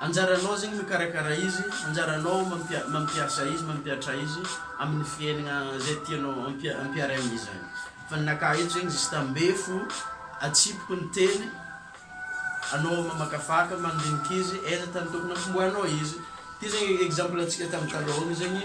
Anjaranao zegny mikarakara izy, anjaranao mampia- mampiasa izy, mampiatra izy amin'ny fiaignana zay tianao ampia- ampiaraigna amin'ny zagny. Fa ninakah eto zegny juste ambefo, atsipiko ny teny, anao mamakafaka, mandiniky izy, aiza tany tokony hampitomboanao izy. Ty zegny exemple antsika tamy taloha agny zegny,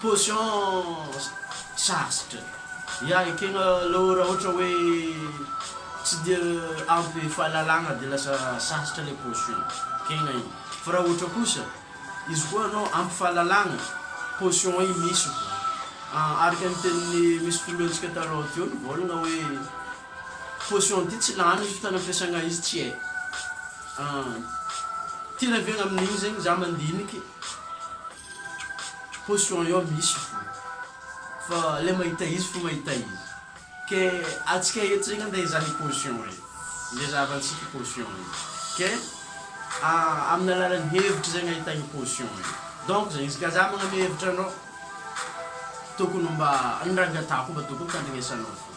Potions sarotra ya ekena alou ra ohatra hoe tsy dia ampy fahalalagna de lasa sarotra le potion ekena igny fa ra ohatra kosa izy koa anao ampy fahalalagna potion igny misy araka ny tenin'ny misy filohantsika talon teo nivôlagna hoe Caution ty tsy lany ny fotoana ampiasagna izy tsy hay an ty rabeigna amin'igny zegny za mandiniky caution io misy fo fa le mahita izy fo mahita izy ke atsika eto zegny ande hizaha i caution io nde zahavantsika i caution io ke amin'ny alalan'ny hevitry zegny ahitagna i caution io donc zegny izy ka za magname hevitra anao tokony mba ny ranga atako mba tokony tandrignesanao fo.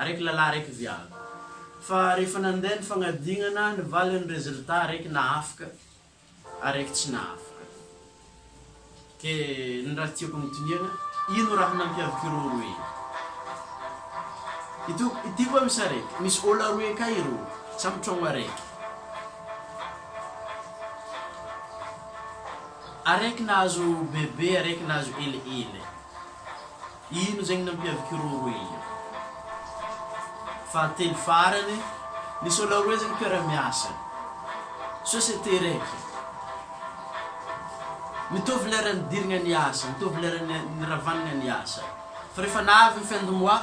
Araiky lalah araiky viavy. Fa rehefa nandeha ny fagnadinana ny valiny résultat araiky nahafaka araiky tsy nahafaka. Ke ny raha tiako agnotiniagna ino raha nampiavaka ireo roe io? Ito ity koa misy araiky misy ôla roe ka ireo samy tragno araiky. Araiky nahazo bebe araiky nahazo elihely. Ino zegny nampiavak'i Roro Elia? Fahatelo farany, nisy olo aroe zegny mpiara-miasa, société raiky. Mitovy lera nidiragna niasa, mitovy lera niravagna niasa, fa rehefa nahavy ny fin de mois,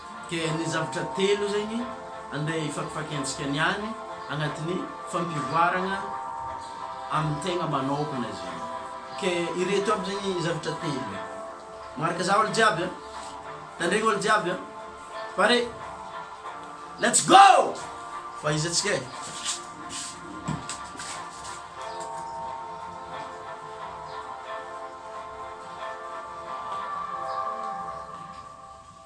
Dia ny zavatra telo zegny andeha hifakifakiantsika ny any agnatin'ny fampivoaragna amin'ny tegna manaokana izy zany. Ke ireto aby zegny zavatra telo e. Magnaraka za olo jiaby a. Tandregny olo jiaby a. Pare! Let's go! Fa izy antsika e.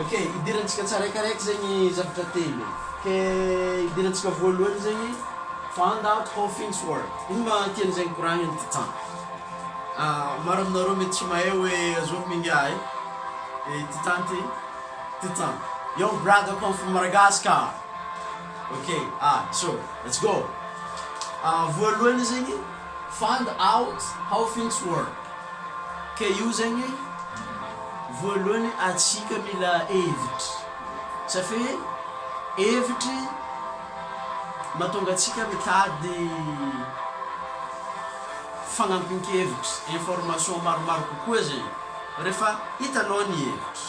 Ok, idirantsika tsaraikaraiky zegny zavatra telo. Ke idirantsika voalohany zegny Fanda Coffins World. Ino ma tiany zegny koragny ny titan? Maro aminareo mety tsy mahay hoe azovy mingahy e, i titan ty, titan. Yo brother come from Madagascar! Ok, ah, so let's go! Voalohany zegny Fand out how things work ka io zegny voalohany atsika mila hevitry safi hevitry matonga atsika mitady fagnampin-kevitry information maromaro kokoa zegny refa hitanao ny hevitry.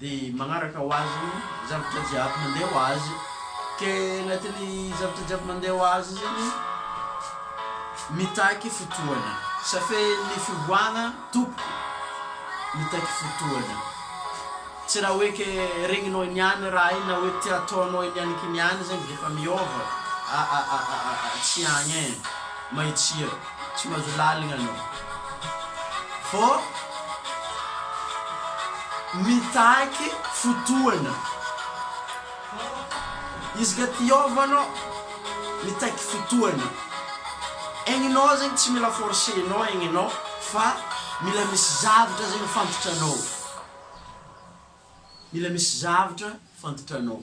Dia magnaraka ho azy ny zavatra jiaby mandeha ho azy. Ke anatin'ny zavatra jiaby mandeha ho azy zany mitaky fotoana. Safe ny fivoahagna tompoko mitaky fotoana. Tsy raha hoe ke regninao niany raha igny na hoe tia ataonao niany kiniany zany dia efa miôva, aa tsy agny e. Mahitsia. Tsy mahazo lalina anao vao mitaky fotoana. Izy ka te hiova anao, mitaky fotoana. Egninao zegny tsy mila forcer-nao egny anao fa mila misy zavatra zegny fantatra anao, mila misy zavatra fantatra anao.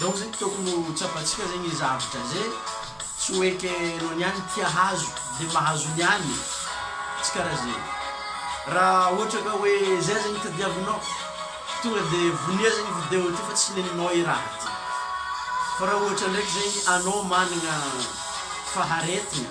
Donc zegny tokony ho tsapantsika zegny i zavatra ze tsy ho eky anao niany tia hazo de mahazo niany e, tsy karaha ze ra ohatra ka hoe zay zegny tadiavinao tonga de vonia zegny video ty fa tsy neninao i raha ty fa ra ohatra ndraiky zegny anao managna faharetagna.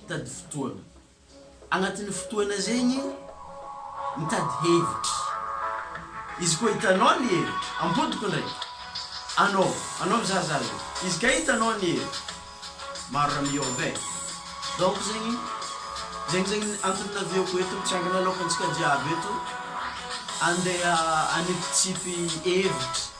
Mitady fotoana. Agnatin'ny fotoana zegny mitady hevitry. Izy koa hitanao ny hevitry, ampodiko ndraiky. Anao, anao mizaha za zao. Izy ka hitanao ny hevitry, maro raha miôva e. Donc zegny, zegny zegny ny antony navieko eto, mitsangana aloakantsika jiaby eto, andeha anipitsipi hevitry.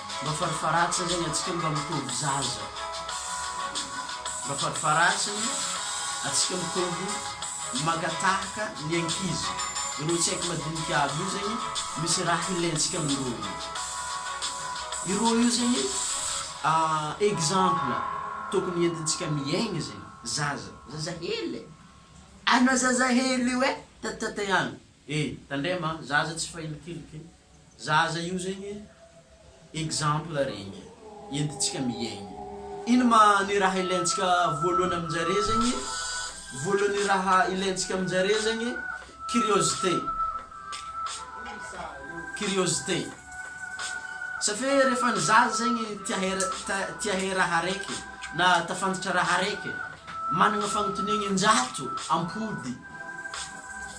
Mba farifaratsiny anie atsika mba mitovy zaza Mba farifaratsiny atsika mitovy mankatahaka ny ankizy Ireo tsy haiko madinika aby io zegny misy raha hilaintsika amin'ireo io Ireo io zegny exemple tokony entintsika miaigny zegny Zaza, zaza hely e Anao zaza hely io e Tatitatay agny. E! Tandrema a! Zaza tsy fahilikilike! Zaza io zegny e! Exemple regny e! Entintsika miaigny! Ino ma ny raha ilaintsika voalohany amin-jare zegny? Voalohany raha ilaintsika amin-jare zegny curiosité, curiosité! Safe rehefa ny zaza zegny tia hera, ta- tia hay raha araiky na tafanditra raha araiky, managna fagnontoniagna in-jato am-pody.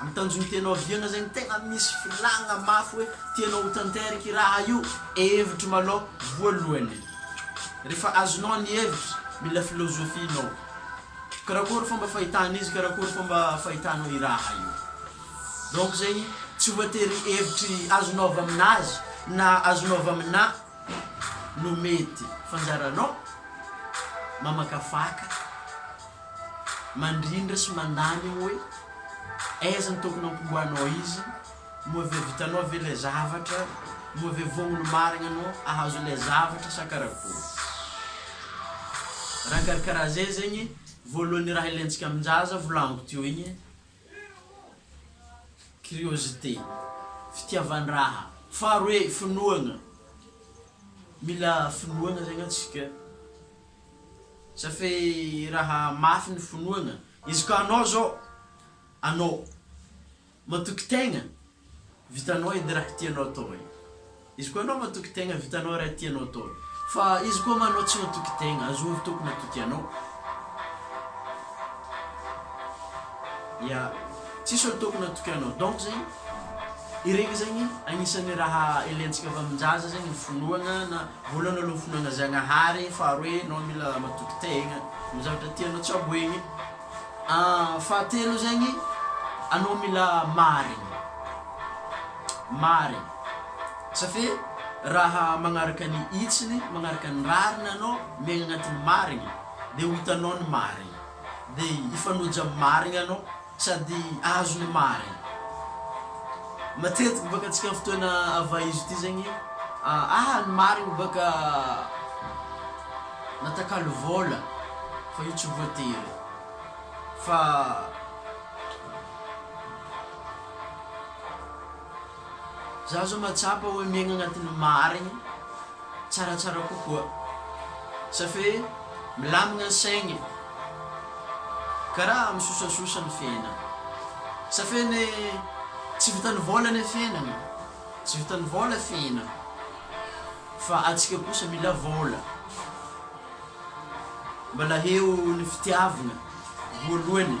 Amin'ny tanjon'ny teny ohaviana izay no tena misy filàna mafy hoe tianao ho tanteraka io raha io? Hevitro malao voalohany. Rehefa azonao ny hevitra, mila filôzôfia ianao. Karakory fomba fahitana izy, karakory fomba fahitanao io raha io. Donc zegny tsy voatery hevitry azonao avy aminazy na azonao avy aminà no mety, fa anjaranao mamakafaka. mandrindra sy mandany eo hoe aiza no tokony hampiboahanao izy, moa ve vitanao ve ilay zavatra, moa ve vonona ho marigna anao ahazo ilay zavatra sa karakory. Raha karakaraha zay zegny voalohany raha ilaintsika amin-jaza volagniko teo igny curiosité, fitiavan-draha, faharoe finoagna, mila finoagna zegny antsika. Sa fe raha mafy ny finoagna. Izy ka anao zao, anao, matoky tegna, vitanao edy raha tianao atao e. Izy koa anao matoky tegna, vitanao raha tianao atao e. Fa izy koa ma anao tsy matoky tegna, azon'ny Tompo matoky anao. Ya, tsisy olo tokony hatoky anao. Donc zegny, iregny zegny agnisan'ny raha ilaintsika avy amin-jaza zegny ny finoagna na. Vola nolofona ana Zagnahary faharoa e enao mila matoky tegna am zavatra tianao tsy aboegny an fahatelo zegny anao mila marigny marigny safe raha magnaraka ny hitsiny magnaraka ny rariny anao miaigny agnatin'ny marigny de ho hitanao ny marigny de hifanoja am marigny anao Sady azo ny marina. Matetiky baka antsika fotoana avaizo ity zegny aha ny marigny baka natakalo vôla fa io tsy voatery fa. Za zao mahatsapa hoe miaigna agnatin'ny marigny tsaratsara kokoa sa fe milamigna ny saigny karaha misosasosa ny fiainagna sa fe ne tsy vitan'ny vôla ne fiainagna tsy vitan'ny vôla fiainagna fa atsika kosa mila vôla mbala heo ny fitiavagna voalohany.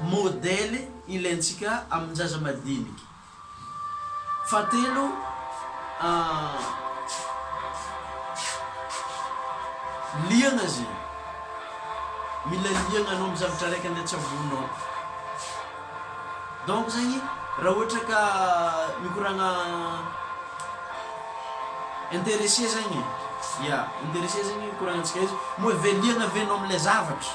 Modely ilaintsika amin-jaza madinika. Fahatelo, liana izy iny. Mila liana anao amin'ny zavatra araiky andeha tsaboinao iny. Donc zegny, raha ohatra ka mikoragna intéressé zegny, ya, intéressé zegny ikoragnantsika izy, moa ve liana ve anao amin'ilay zavatra.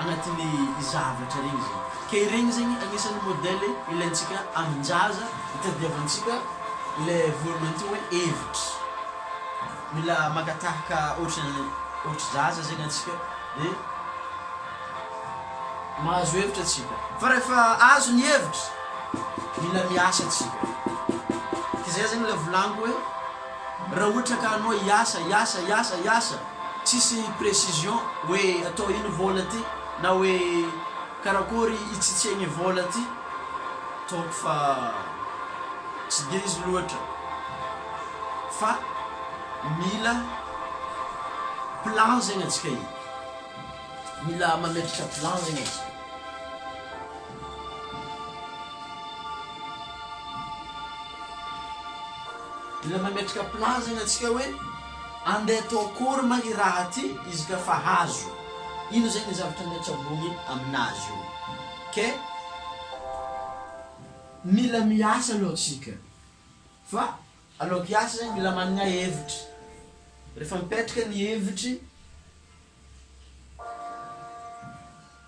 anatin'ny zavatra regny zay ka iregny zegny agnisan'ny modèle ilaintsika aman-jaza itadiavantsika le voalohany teo hoe hevitry mila maka tahaka ohatran'ny ohatry zaza zegny antsika de mahazo hevitra antsika fa rehefa azo ny hevitry mila miasa antsika k'izay zegny le volagniko hoe Raha ohatra ka anao hiasa, hiasa, hiasa, hiasa, tsisy précision hoe atao ino vola ty na hoe karakory itsitsegny vola ty, donc fa tsy dia izy loatra fa mila plan zegny atsika e, mila mametraka plan zegny atsika. Mila mametraka plan-zany antsika hoe andeha atao akory ma i raha ty izy ka fa hazo. Ino zay ny zavatra andeha tsaboina aminazy io. Kay mila miasa aloha tsika. Fa aloaky hiasa zany mila manana hevitry. Refa mipetraka ny hevitry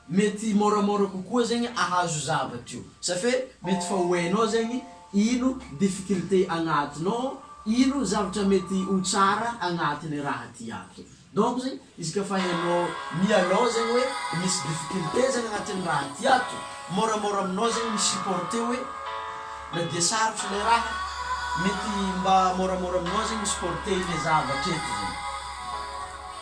Mety môramôra kokoa zegny ahazo zavatra io sa fe mety fa ho ainao zegny ino difficulté agnatinao, ino zavatra mety ho tsara agnatin'ny raha ty ato. Donc zegny izy ka fa hainao mialôha zegny hoe misy difficulté zegny agnatin'ny raha ty ato, môramôra aminao zegny mi-supporter hoe na dia sarotro le raha, mety mba môramôra aminao zegny mi-supporter le zavatra eto zegny.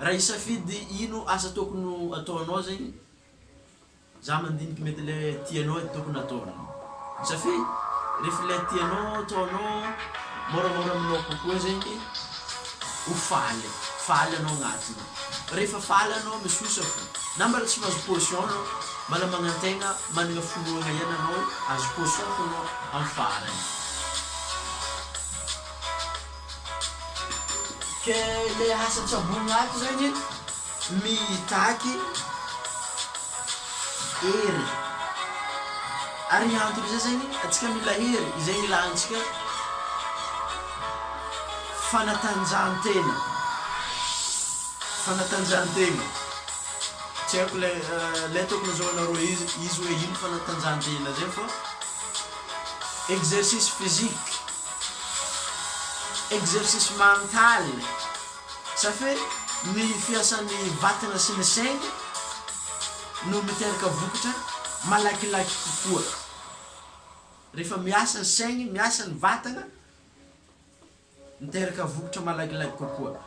Raha hisafidy ino asa tokony ho ataonao zegny, za mandiniky mety le tianao edy tokony ataonao. Satria ref le tianao ataonao môramôra aminao kokoa zegny ho faly, faly anao agnatiny. Rehefa faly anao misosa fô, na mbala tsy mahazo caution anao, mbala magnantegna managna finoagna ihany anao hoe azo caution fô anao am farany. Ke le asa tsy aboin'ato zegny mitaky hery. Ary hianton'izay zegny antsika mila hery izay ilantsika fanatanjahantena, fanatanjahantena. Tsy haiko le le ataoko nazahoanareo izy izy hoe ino fanatanjahantena zay fa exercice physique. Exercice mental, ça fait ny fiasan'ny vatana sy ny saina no miteraka vokatra malakilaky kokoa. Rehefa miasa ny saigny, miasa ny vatana, miteraka vokatra malakilaky kokoa.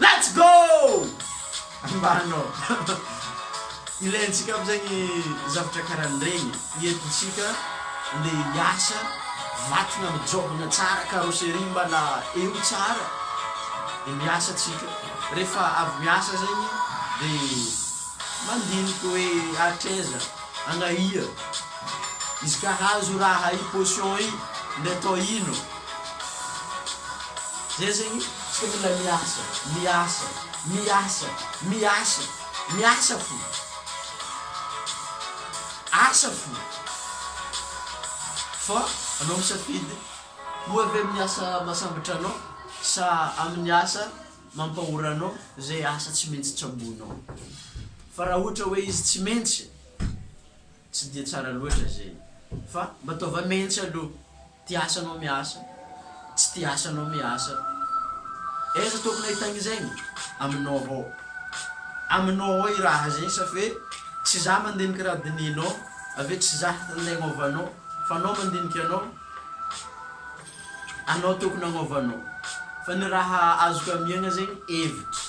Let's go! Mba hanao. Ilaintsika aby zegny zavatra karahan'iregny. Eto tsika ndeha hiasa, vatagna mijobagna tsara, carrosserie mbala eo tsara, de miasa tsika. Rehefa avy miasa zegny de mandiniky hoe hatraiza, agnahia, izy ka hahazo raha i potion i ndeha atao ino. Zay zegny tsy tokony la miasa, miasa, miasa, miasa, miasa fo, asa fo fa anao misafidy moa ve amin'ny asa mahasambotra anao sa amin'ny asa mampahora anao zay asa tsy maintsy tsaboinao fa raha ohatra hoe izy tsy maintsy tsy de tsara loatra zegny fa mba ataova maintsy aloha. Tia asa anao miasa, tsy tia asa anao miasa. Aiza tokony ahitagna zegny? Aminao avao. Aminao ao i raha zegny safi hoe tsy za mandiniky raha dinihinao, avy eo tsy za handeha agnôva anao fa anao mandiniky anao, anao tokony agnôva anao. Fa ny raha azoko amiagna zegny hevitry.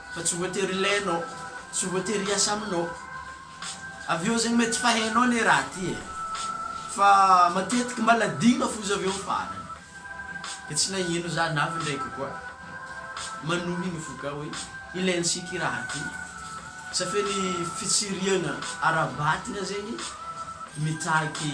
Fa tsy voatery ilainao, tsy voatery hiasa aminao. Avy eo zegny mety fa hainao le raha ty e, fa matetiky mbala adino foza avy eo farany. Ke tsy nagnino za navy ndraiky koa manohigny fo ka hoe ilaintsika i raha ty. Sa fe ny fitsiriagna ara-batagna zegny mitaky.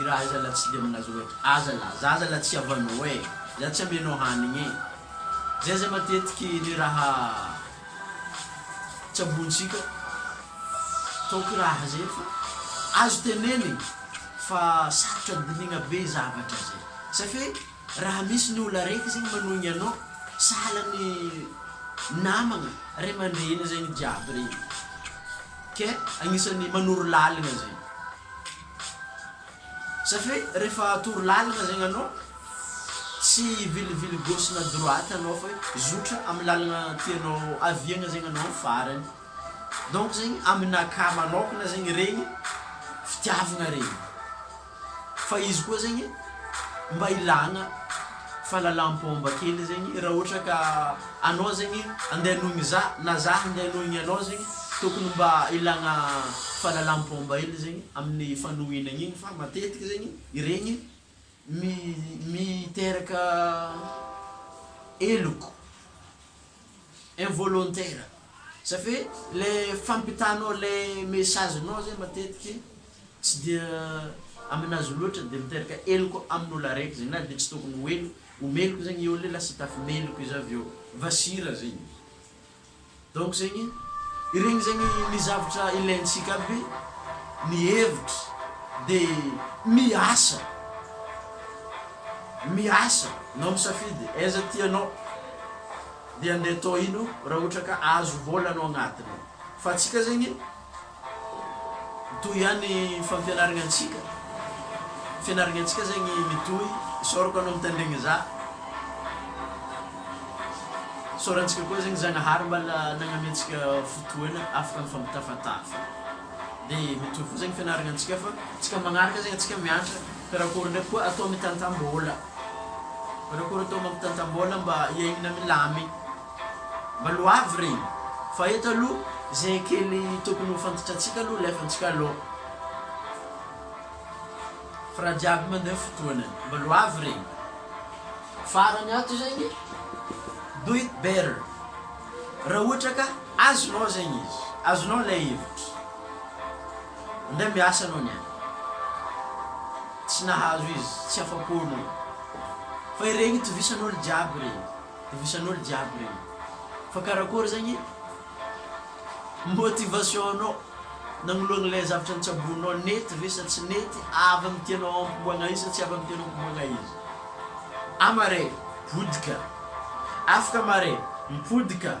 Iraha iza la tsy de milaza oe aza la zaza la tsy havanao e za tsy amenao hanigny e zay zay matetiky ny raha tsabointsika ataoko iraha zay fa azo tenenigny fa sarotra dinigna be zavatra zay safe raha misy ny olo areky zegny manohigny anao sahala ny namagna ray aman-dreny zegny jiaby regny ke agnisan'ny manoro laligna zegny. Satria rehefa atoro lalana zegny anao, tsy hivilivily gauche na droite anao fa hoe zotra amin'ny lalana tianao haviagna zegny anao amin'ny farany. Donc zegny aminakahy manôkagna zegny regny fitiavagna regny, fa izy koa zegny mba ilagna. fahalalam-pomba kely zegny raha ohatra ka anao zegny andeha hanohigny za na za andeha hanohigny anao zegny tokony mba ilagna fahalalam-pomba hely zegny amin'ny fanohinagna igny fa matetiky zegny iregny mi- miteraka heloka. involontaire ça fait le fampitanao le message nao zay matetiky tsy dia aminazy loatra de miteraka heloka amin'olo araiky zay na de tsy tokony ho elo ho meloka zegny i olo i lasa tafi meloka izy avy eo vasira zegny izy donc zegny iregny zegny ny zavatra ilaintsika aby ny hevitra de miasa miasa nao misafidy aiza tianao. dia ndeha tohino raha ohatra ka azo vola no agnatiny fa antsika zegny mitohy ihany fampianaragna antsika fianaragna antsika zegny mitohy isaorako anao mitandregny za isaorantsika koa zegny zagnahary mbala nagname antsika fotoagna afaka mifampitafatafa de mitohy koa zegny fianaragna antsika fa tsika magnaraka zegny antsika miantra karakory ndraiky koa atao mitantam-bola Karakory tao mampitantam-bola mba hiainana milamign. Mba loavy re. Fa eto aloha zay kely tokony ho fantatrantsika aloha alefantsika aloha. Fa raha jiaby mandeha fotoana. Mba loavy re. Farany ato zegny do it better. Raha ohatra ka azonao zegny izy, azonao ilay hevitra. Indray miasa anao ny any. Tsy nahazo izy, tsy afa-po anao. Fa ireny tovisan'olo jiaby ireny, tovisan'olo jiaby ireny. Fa karakory zegny motivation-nao nagnoloagna ilay zavatra nitsaboinao, nety ve sa tsy nety, avy amin'ny tianao ampiboagna izy sa tsy avy amin'ny tianao ampiboagna izy. Ama re, potika. Afaka ama re, mipotika.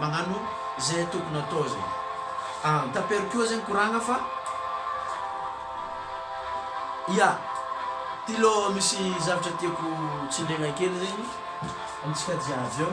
Magnano ze tokony atao ze. Ah mitapero koa zegny koragna fa Ya ty lo misy zavatra tiako tsindriagna kely zegny amintsika jiaby eo.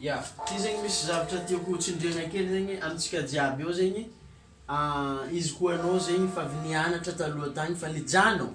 Ya, ty zegny misy zavatra tiako ho tsindriagna kely zegny amintsika jiaby ao zegny, izy koa anao zegny efa avy nianatra taloha tagny fa nijanogno.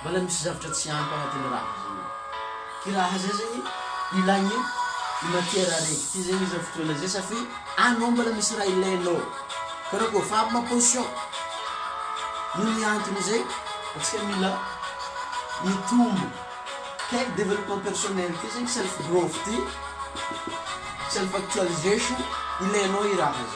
Mbola misy zavatra tsy ampy agnatin'ny raha zegny e. Kiraha zay zegny ilagny i matière araiky ty zegny zao fotoagna zay satria anao mbola misy raha ilainao. Fa anao kôfa avy ma position, noho ny antony zay antsika mila mitombo. Kay développement personnel ty zegny self growth ty, self actualisation, ilainao i raha zay.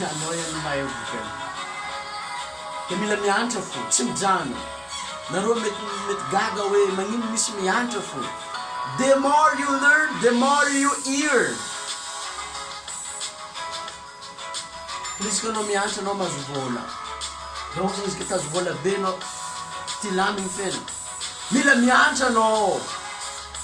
Anao ihany no mahay vokany. Dia mila miantra fo, tsy mijanona. Nareo mety mety gaga hoe magnino misy miantra fo. The more you learn, the more you earn. Koa izy ka anao miantra anao mahazo vola. Raha ohatra izy ka tazo vola be anao, ty lany ny fiainana. Mila miantra anao.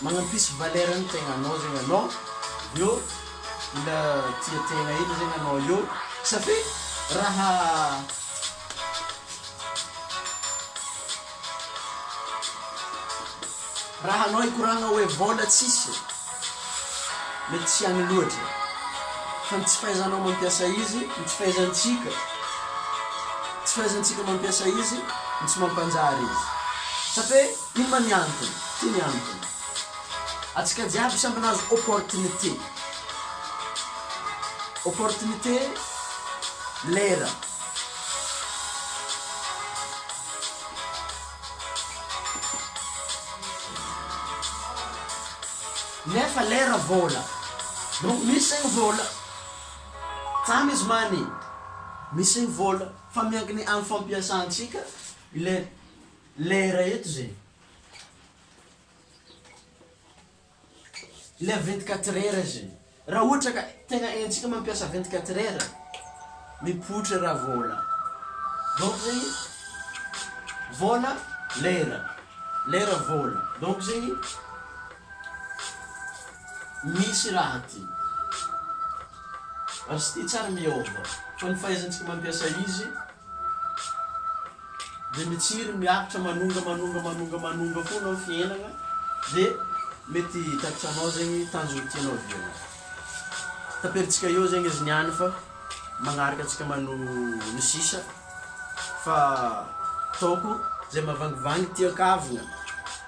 Magnampisy valeur ny tegnanao zegny anao, avy eo mila tia tegna hely zegny anao eo satria raha raha anao hikoragna hoe vôla tsisy mety tsy agny loatra fa ny tsy fahaizanao mampiasa izy, ny tsy fahaizantsika tsy fahaizantsika mampiasa izy no tsy mampanjary izy satria. Inona ny antony? Ty ny antony. Atsika jiaby samby nahazo opportunité. Opportunité lera. Nefa lera vola. Donc misy zegny vola. Tsamy izy mani. Misy zegny vola. Fa miankina am fampiasantsika ilay Lera eto ze. Ilay vingt quatre heures ze. Raha ohatra ka tegna haintsika mampiasa vingt quatre heures, mipoitra raha vôla. Donc zegny, vôla, lera, lera, vôla. Donc zegny, misy raha ty. Ary sty tsary miôva. Fa ny fahaizantsika mampiasa izy. dia mitsiry miaritra manonga manonga manonga manonga foana ny fiainana dia mety hitatitra anao zegny tanjogny tianao hividianana taperintsika eo zegny izy niany fa magnaraka antsika mano ny sisa fa ataoko zay mavangivangy tian-kavina.